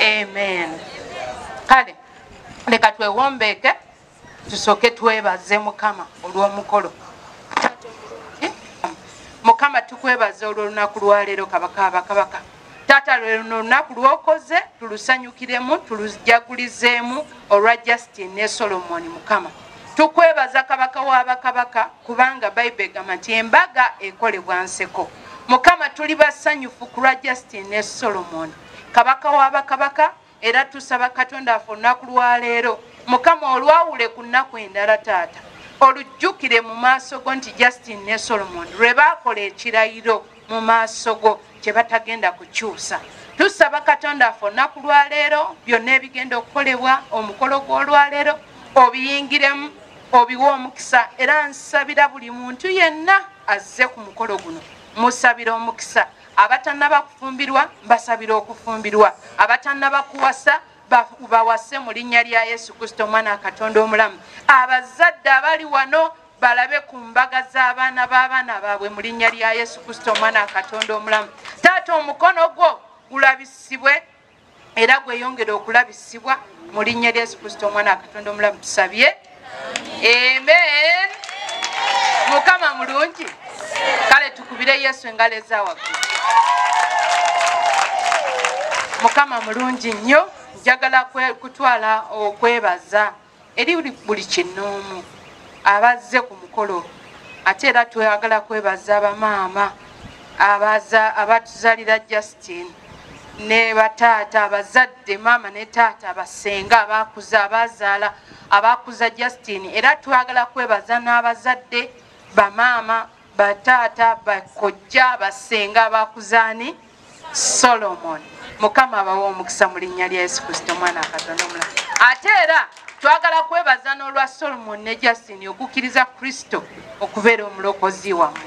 amen kale leka twewombeeke tusooke twebaze mukama olw'omukolo mukama tukwebaza olwolunaku lwaleero kabaka abakabaka taata lweno olunaku lwokoze tulusanyukiremu tulujagulizemu olwa justin ne solomoni mukama Tukwebaza Kabaka wa Bakabaka kubanga Bible egamba nti embaga ekolebwa nseko. Mukama tuli basanyufu ku lwa Justin ne Solomon. Kabaka wa Bakabaka era tusaba Katonda affe olunaku lwa leero. Mukama olwawule ku nnaku endala taata. Olujjukire mu maaso go nti Justin ne Solomon lwe baakola ekirayiro mu maaso go. kyebatagenda kukyusa tusaba katonda affe olunaku lwaleero byonna ebigenda okukolebwa omukolo gw'olwaleero obiyingiremu obiwa omukisa era nsabira buli muntu yenna azze ku mukolo guno musabira omukisa abatanaba kufumbirwa mbasabira okufumbirwa abatanaba kuwasa bawase mu linnya lya yesu kristo omwana wa katonda omulamu abazadde abali wano balabe ku mbaga z'abaana b'abaana baabwe mu linnya lya yesu kristo omwana wa katonda omulamu taata omukono gwo gulabisibwe era gweyongere okulabisibwa mu linnya lya yesu kristo omwana wa katonda omulamu tusabye amen mukama mulungi kale tukubire yesu engalo ezawaggu mukama mulungi nnyo njagala kutwala okwebaza Eri buli kinnoomu abazze ku mukolo ate era twagala kwebaza abamaama abatuzalira Justine ne bataata abazadde maama ne taata basenga abakuza abazaala abakuza Justine era twagala kwebaza n'abazadde bamaama bataata bakojja basenga abakuzaani solomon mukama abawa omukisa mu linnya lya yesu kristo omwana akatonda omula ate era twagala kwebaza n'olwa solomon ne justin okukkiriza kristo okubeera omulokozi wamu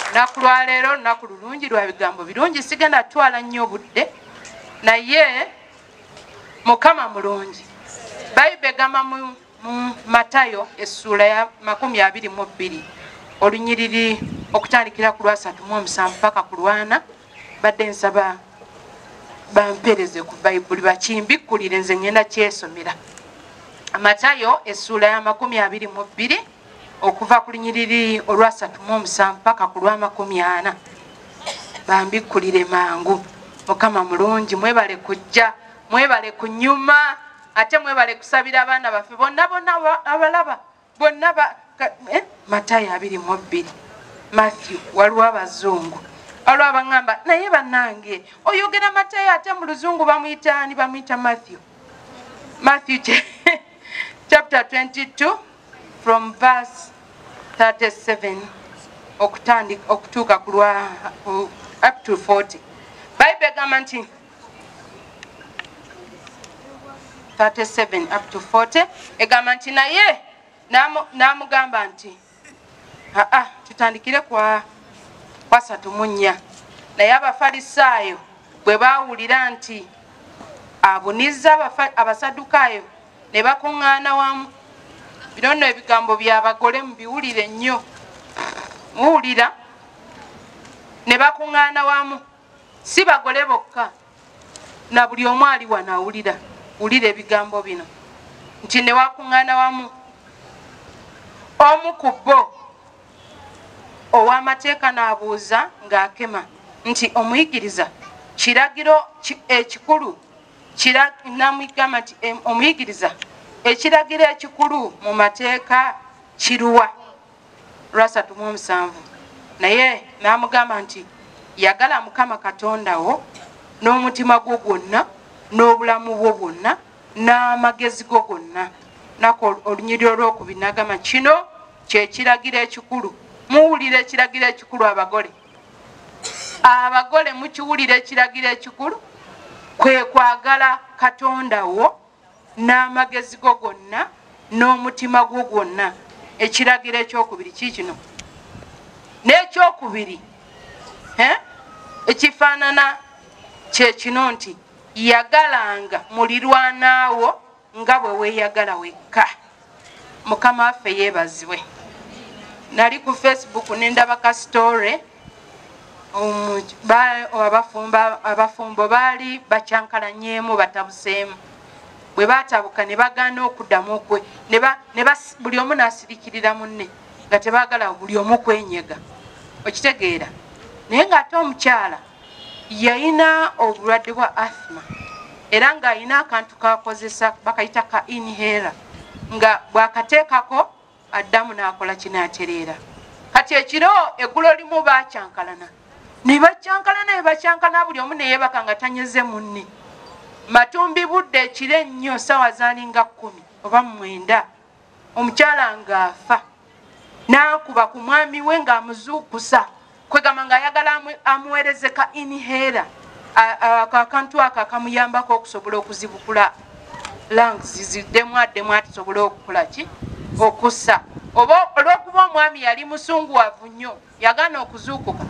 lunaku lwaleero lunaku lulungi lwa bigambo birungi sigenda twala nnyo obudde naye mukama mulungi bayibe gamba mu mu matayo essuula ya makumi abiri mu bbiri olunyiriri okutandikira ku lwasatu mu omusanvu paka ku lwana badde nsaba bampereze ku bayibuli bakimbikkulire nze ngenda kyesomera matayo essuula ya makumi abiri mu bbiri okuva ku lunyiriri olwasatu mu omusanvu paka ku lwamakumi ana bambikkulire mangu mukama mulungi mwebale kujja mwebale kunyuma ate mwebale kusabira abaana baffe bonna bonna abalaba bonna eh, matayo abiri mu bbiri matthew waliwo abazungu waliwo abaŋamba naye banange oyogera matayo ate mu luzungu bamuyitaani bamuyita matthew matthew chapter 22 from verse 37 okutandika okutuuka kulwa up to 40 bible egamba nti 37 up to 40 egamba nti naye n'amugamba nti aa tutandikire kwa kwasatu mu nnya naye abafalisaayo bwe baawulira nti abunizza abasadukaayo ne bakuŋŋaana wamu bino nno ebigambo by'abagole mu biwulire nnyo muwulira ne bakuŋŋaana wamu si bagole bokka na buli omu ali wano awulira wulira ebigambo bino nti newakuŋŋaana wamu omu ku bo ow'amateeka n'abuuza ng'akema nti omuyigiriza kiragiro ekikulu namugamba nti omuyigiriza ekiragiro ekikulu mu mateeka kiruwa lwasatu mu omusanvu naye n'amugamba nti yagala mukama katonda wo n'omutima gwo gwonna n'obulamu bwo bwonna n'amagezi go gonna nako olunyiriro olwokubi nagamba kino kyekiragiro ekikulu muwulira ekiragiro ekikulu abagole abagole mukiwulira ekiragiro ekikulu kwe kwagala katonda wo n'amagezi go gonna n'omutima gwo gwonna ekiragiro ekyokubiri kiikino n'ekyokubiri ekifaanana kyekino nti yagalanga mulirwanaawo nga bwe weeyagala wekka Mukama waffe yebazibwe. Nali ku Facebook nendaba ka story um, abafumbo baali bakyankalanyemu batabuseemu bwe batabuka ne bagaana okuddamu okwe buli omu n'asirikirira munne nga tebagala buli omu kwenyega okitegeera naye ng'ate omukyala yalina obulwadde bwa athma era ng'alina akantu kakozesa bakayita ka inhera nga bwakateekako addamu n'akola kinaatereera kati ekiro eggulo limu bakyankalana ne bakyankalana ne bakyankalana buli omu neyeebaka nga tanyeze munne matumbi budde ekiro ennyo saawa zaalinga kkumi oba mumwenda omukyala ng'afa n'akuba ku mwami we ng'amuzuukusa kwegamba ng'ayagala amuweereze ka inhera ako akantu ako akamuyambako okusobola okuzibukula lungs ziddemu addemu atisobole okukola ki okussa oba olw'okuba omwami yali musunguwavu nnyo yagaana okuzuukuka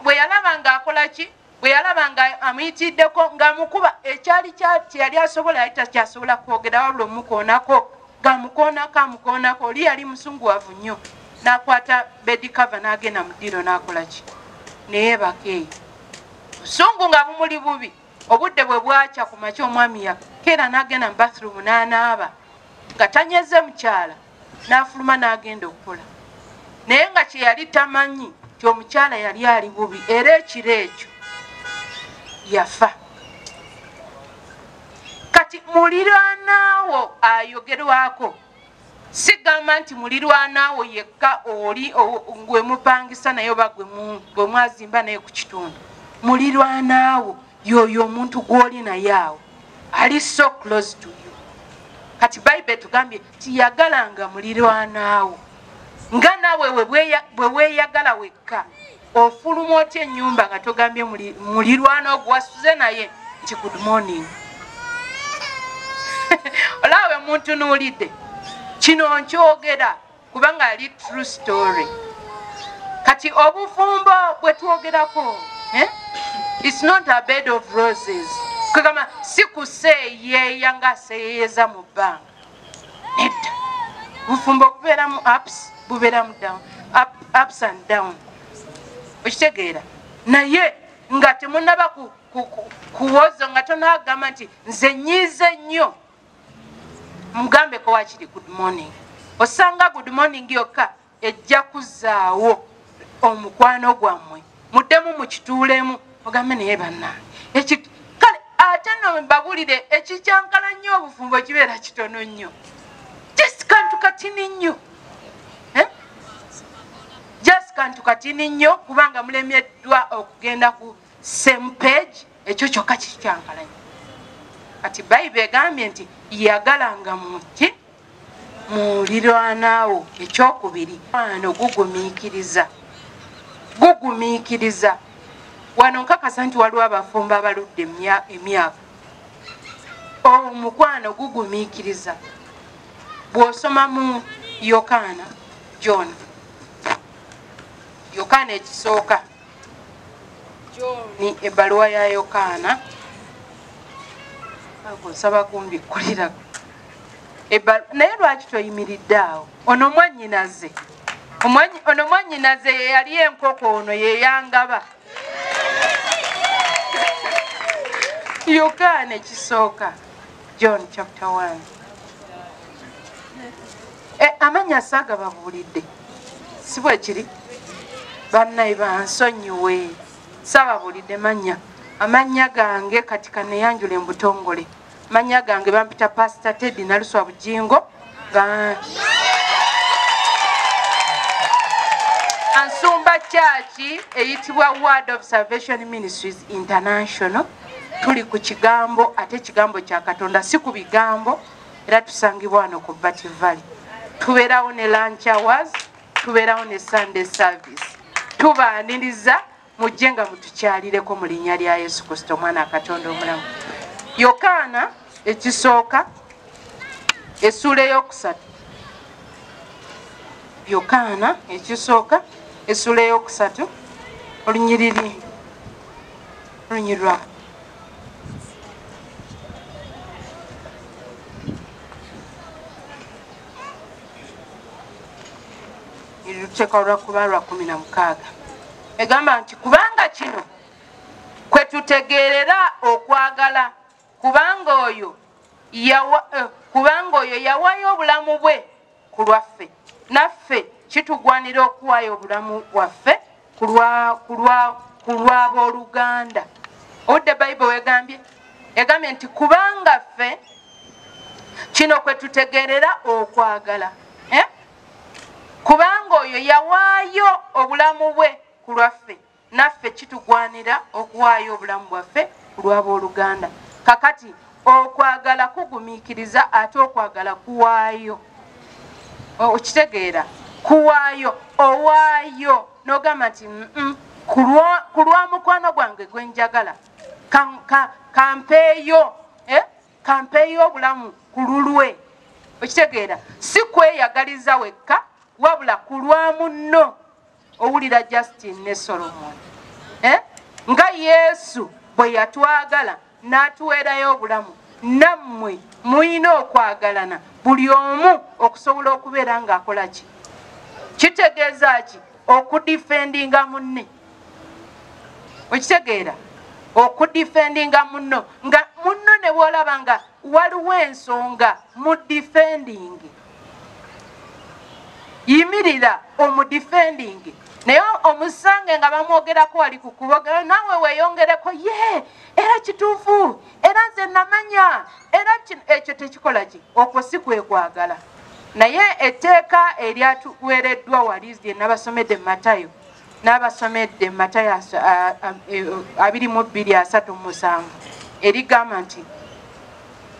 bwe yalaba ng'akola ki bwe yalaba nga amuyitiddeko ng'amukuba ekyali kye yali asobola yali takyasobola kwogera wabula omukoonako ng'amukoonako amukoonako oli yali musunguwavu nnyo n'akwata bedikava n'agenda mu ddiiro n'akola ki neyeebaka eyo busungu nga bumuli bubi obudde bwe bwakya ku makya omwami yakeera n'agenda mu bathroom n'anaaba nga tanyeze mukyala n'afuluma n'agenda okukola naye nga kye yali tamanyi nti omukyala yali ali bubi era ekiro ekyo yafa kati mulirwanaawo ayogerwako sigamba nti mulirwanaawo yekka oli gwe mupangisa naye oba gwe mwazimba naye ku kitundu mulirwanaawo yoyo omuntu gw'oli naye awo ali so close to you kati bayibuli etugambye Yagalanga mulirwanaawo nga nawe bweweyagala wekka. Ofuluma otya ennyumba nga togambye mulirwana ogwasuze naye nti good morning. Olawe muntu nuulidde kino nkyogera kubanga ali true story. Kati obufumbo bwe twogerako eh? It's not a bed of roses. Kagama si kuseeyeeya nga aseeyeyeza mu bbanga. nedda bufumbo bubeeramu ups bubeeramu down up, ups and down okitegeera naye nga temunaba kuwozo nga tonagamba nti nze nyiize nnyo mugambeko wakiri good morning osanga good morning yokka ejja kuzaawo omukwano gwammwe muddemu mukituulemu mugambe naye bannange kale ate no babulire ekikyankala nnyo obufumbo kibeera kitono nnyo just kantu katini nnyo eh? just kantu katini nnyo kubanga mulemeddwa okugenda ku same page ekyo kyokka kikyankala nnyo kati bayibe egambye nti yagalanga muki mulirwanaawo ekyokubiri ano gugumiikiriza gugumiikiriza wano nkakasa nti waliwo abafumbo abaludde emyaka omukwano gugumiikiriza bw'osoma mu yokaana jona yokaana ekisooka ni ebbaluwa ya yokaana nsaba kumbikkulirako naye lwaki toyimiridde awo ono mwanyinaze ono mwanyinaze yeyali enkoko ono yeyangaba yokaana ekisooka john chapter 1 e, eh, amanya saaga babuulidde si bwekiri bannaye bansonyiwe saababuulidde manya amannya gange kati kaneyanjula embutongole mannya gange bampita pasita teddy naluswa bujingo ansumba kyaki eyitibwa word of salvation ministries international tuli ku kigambo ate ekigambo kya katonda si ku bigambo era tusangibwa wano ku Batty Valley. Tubeerawo ne lunch hours, tubeerawo ne Sunday service. Tubaaniriza mujje nga mutukyalireko mu linnya lya Yesu Kristo omwana Katonda omulamu. Yokaana ekisooka essuula ey'okusatu Yokaana ekisooka essuula ey'okusatu olunyiriri Nonyirwa. luteeka olwakuba lwa kumi na mukaaga egamba nti kubanga kino kwe tutegeerera okwagala kubanga oyo eh, kubanga oyo yawayo obulamu bwe ku lwaffe naffe kitugwanira okuwaayo obulamu bwaffe ku lw'abooluganda obudde bayibo wegambye egambye nti kubanga ffe kino kwe tutegeerera okwagala eh? kubanga oyo yawaayo obulamu bwe ku lwaffe Naffe kitugwanira okuwaayo obulamu bwaffe ku lw'abooluganda. Kakati okwagala kugumiikiriza ate okwagala kuwaayo. Okitegeera? Kuwaayo, owaayo n'ogamba nti ku lwa mukwano gwange gwe njagala kampeeyo eh, kampeeyo obulamu ku lulwe. Okitegeera? Si kweyagaliza wekka wabula ku lwa munno. owulira justin ne solomon eh? nga yesu bwe yatwagala n'atuweerayo obulamu nammwe mulina okwagalana buli omu okusobola okubeera ng'akola ki kitegeeza ki okudifendinga munne okitegeera okudifendinga munno nga munno ne bwolaba nga waliwo ensonga mu difendingi yimirira omudifendingi naye omusange nga bamwogerako wali ku kubogera naawe weeyongereko ye era kituufu era nze namanya era ekyo tekikola ki okwo si kwekwagala naye etteeka eryatuweereddwa wali lye nabasomedde matayo n'abasomedde matayasi e, abiri mu bbiri asatu musanvu erigamba nti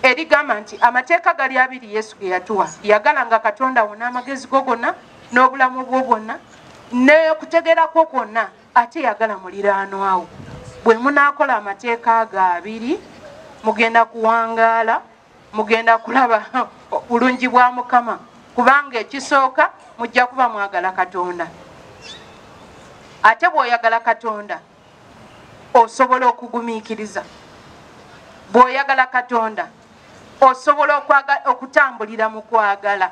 erigamba nti amateeka gali abiri yesu ge yatuwa yagala nga katonda wo n'amagezi go gonna n'obulamu bwo bwonna nekutegeera kwo kwonna ate yagala muliraanwawo bwe munaakola amateeka ago abiri mugenda kuwangaala mugenda kulaba bulungi bwa mukama kubanga ekisooka mujja kuba mwagala katonda ate bwoyagala katonda osobola okugumiikiriza bwoyagala katonda osobola okutambulira mu kwagala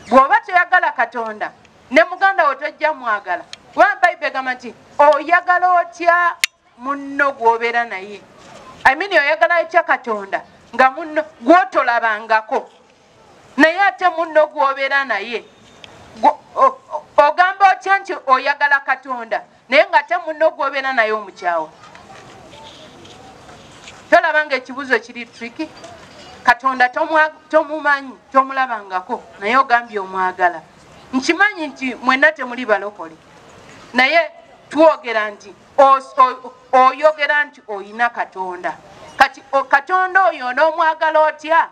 bwoba toyagala katonda ne muganda wo tojja mwagala kuba bayibuli egamba nti oyagala otya munno gwobeera naye I mean oyagala atya katonda nga munno gwotolabangako naye ate munno gwobeera naye ogamba otya nti oyagala katonda naye nga ate munno gwobeera naye omukyawa tolaba nga ekibuzo kiri triki katonda tomumanyi tomulabangako naye ogambye omwagala nkimanyi nti mwena temuli balokole naye twogera nti oyogera nti oyina katonda kati katonda oyo onoomwagala otya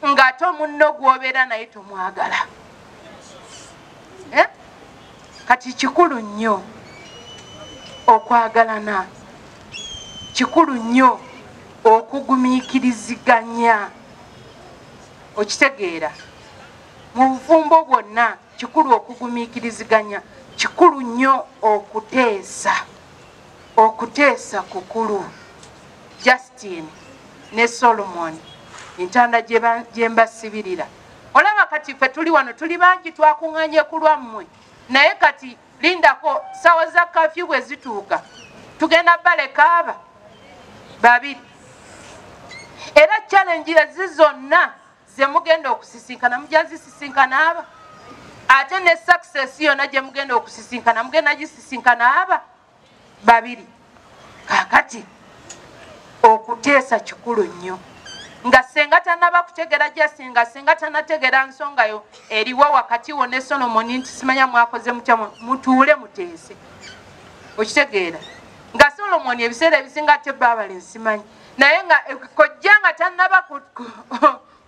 ng'ate omunno gwobeera naye tomwagala eh? kati kikulu nnyo okwagalana kikulu nnyo okugumiikiriziganya okitegeera mu bufumbo bwonna Kikulu okugumiikiriziganya, kikulu nnyo okuteesa. Okuteesa kukulu. Justin ne Solomon entanda gye mbasibirira. Olaba kati ffe tuli wano tuli bangi twakunganye ku lwammwe naye kati lindako ssaawa za kafyu bwe zituuka tugenda balekaaba babiri era challenge ezi zonna zemugenda okusisinkana mujja zisisinkana aba ate ne success yona gyemugenda okusisinkana mugenda gisisinkana aba babiri kakati okuteesa kikulu nnyo nga senga tanaba kutegera jasi nga senga tanategera nsonga yo eriwo wakati wo ne solomoni nti simanya mwakoze mutya mutuule muteese okitegeera nga solomoni ebiseera ebisinga ate baabale nsimanyi naye nga eh, kojja nga tannaba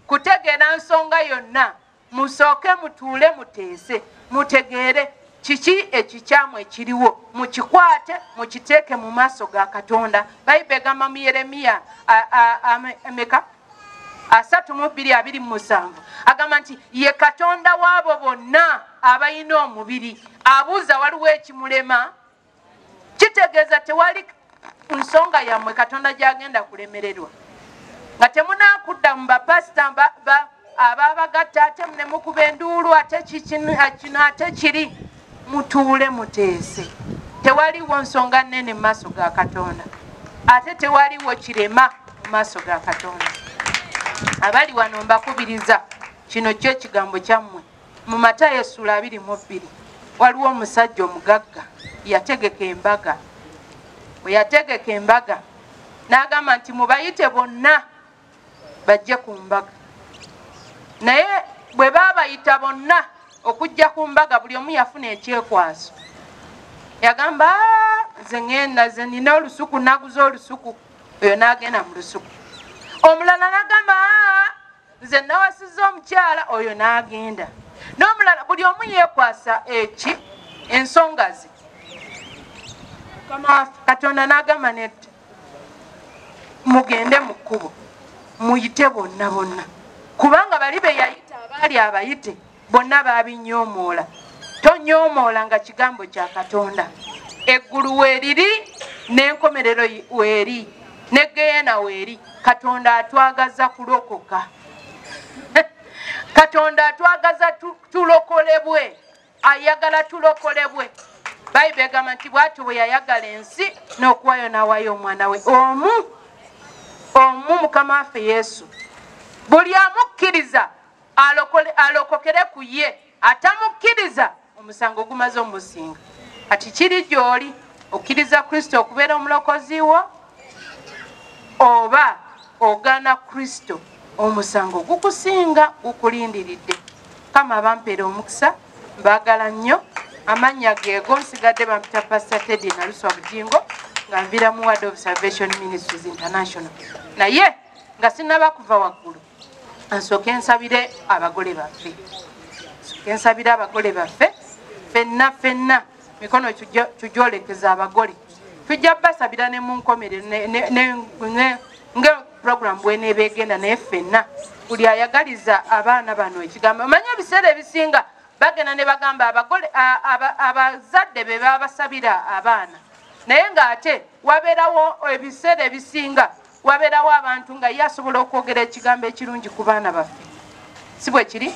kutegeera nsonga yonna musooke mutuule muteese mutegeere kiki ekikyamu ekiriwo mukikwate mukiteeke mu maaso ga katonda bayibe egamba mu yeremiya meka asatu mu bbiri abiri mu musanvu agamba nti ye katonda w'abo bonna abalina omubiri abuuza waliwo ekimulema kitegeeza tewali nsonga yammwe katonda gyagenda kulemererwa nga temunakudda mu bapasita ababagatta ate nemukuba enduulu ate kino ate kiri mutuule muteese tewaliwo nsonga nene mu maaso ga katonda ate tewaliwo kirema mu maaso ga katonda abali wano mbakubiriza kino kyo ekigambo kyammwe mu matayo essula abiri mu bbiri waliwo omusajja omugagga yategeka embaga bwe yategeka embaga n'agamba nti mubayite bonna bajje ku mbaga naye bwe baabayita bonna okujja ku mbaga buli omu yafuna ekyekwaso yagamba nze ngenda ze nina olusuku naguza olusuku oyo n'agenda mu lusuku omulala nagamba nze nawasiza omukyala oyo n'agenda n'omulala buli omu yeekwasa eki ensonga ze katonda n'agamba nedda mugende mu kkubo muyite bonna bonna kubanga bali be yayita abaali abayite bonna baabinyoomoola tonyoomoola nga kigambo kya katonda eggulu weeriri n'enkomerero weeri ne geyena weeri katonda atwagaza kulokoka katonda atwagaza tulokolebwe ayagala tulokolebwe bayibuli egamba nti bwatyo bwe yayagala ensi n'okuwayo n'awayo omwana we omu omu mukama waffe yesu buli amukkiriza alokole alokokere ku ye atamukkiriza omusango ogumaze omusinga kati kiri gy'oli okkiriza kristo okubeera omulokozi wo oba ogaana kristo omusango gukusinga gukulindiridde kama bampeera omukisa mbaagala nnyo amannya geego nsigadde bampita pasta tedi naluswa bujingo nga nvira mu word of salvation ministries international naye nga sinaba kuva waggulu nsooke nsabire abagole baffe nsooke nsabire abagole baffe fenna fenna mikono tugyolekeza abagole tujja basabira ne mu nkomerero nga puroguramu bweneeba egenda naye fenna buli ayagaliza abaana bano ekigambo omanye ebiseera ebisinga bagenda ne bagamba abagole abazadde be babasabira abaana naye ng'ate wabeerawo ebiseera ebisinga wabeerawo abantu nga ye asobola okwogera ekigambo ekirungi ku baana baffe si bwe kiri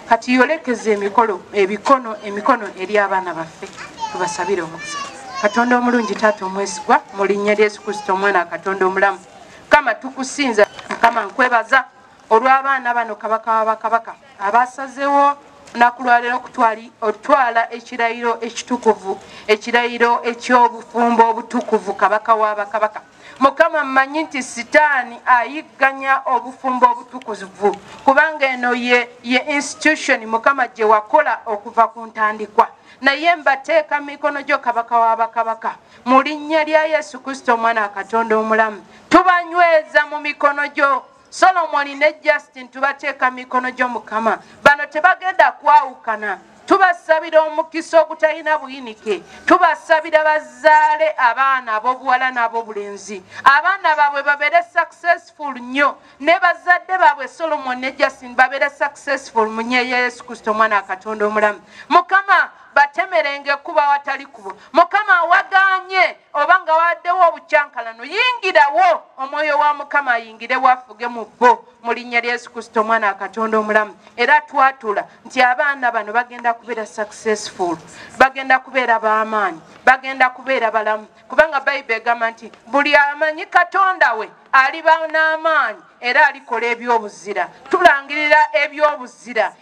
kati yolekeza emikolo ebikono emikono eri abaana baffe tubasabire omukisa katonda omulungi taata omwesigwa mu linnya lya yesu kristo omwana katonda omulamu mukama tukusinza mukama nkwebaza olw'abaana bano kabaka wa bakabaka abasazewo olunaku lwaleero okutwala ekirayiro ekitukuvu ekirayiro eky'obufumbo obutukuvu kabaka wa bakabaka mukama mmanyi nti sitaani ayigganya obufumbo obutukuvu kubanga eno ye ye institution mukama gye wakola okuva ku ntandikwa naye mbateeka mu mikono gyo kabaka wa bakabaka mu linnya lya yesu kristo omwana wa katonda omulamu tubanyweza mu mikono gyo solomoni ne justin tubateeka mu mikono gyo mukama bano tebagenda kwawukana tubasabira omukisa ogutalina buyinike tubasabira bazaale abaana abobuwala n'abobulenzi abaana baabwe babeere successful nnyo ne bazadde baabwe solomon ne justin babeere successful mu nyeyo ya yesu kristo omwana wa katonda omulamu mukama batemerenge kuba watali kubo mukama waganye oba nga wabaddewo obukyankalano yingirawo omwoyo wa mukama ayingire wafuge mu bo mu linnya lya yesu kristo omwana akatonda omulamu era twatula nti abaana bano bagenda kubeera successful bagenda kubeera b'amaanyi bagenda kubeera balamu kubanga bayibuli egamba nti buli amanyi katonda we aliba n'amaanyi era alikola ebyobuzira tulangirira ebyobuzira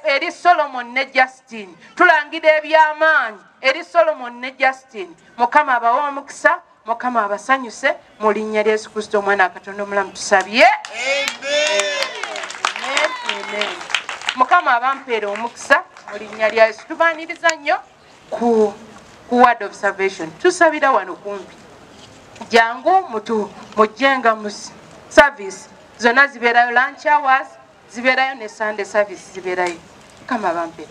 eri solomon ne justine tulangira eby'amaanyi eri solomon ne justine mukama abawe omukisa mukama abasanyuse mu linnya lya yesu kristo omwana akatonda omulamu tusabye mukama abampeera omukisa mu linnya lya yesu tubaniriza nnyo ku ku word of salvation tusabira wano kumpi jangu mutu mujjenga mu service zonna zibeerayo lunch hours zibeerayo ne sunday service zibeerayo mukama abampeera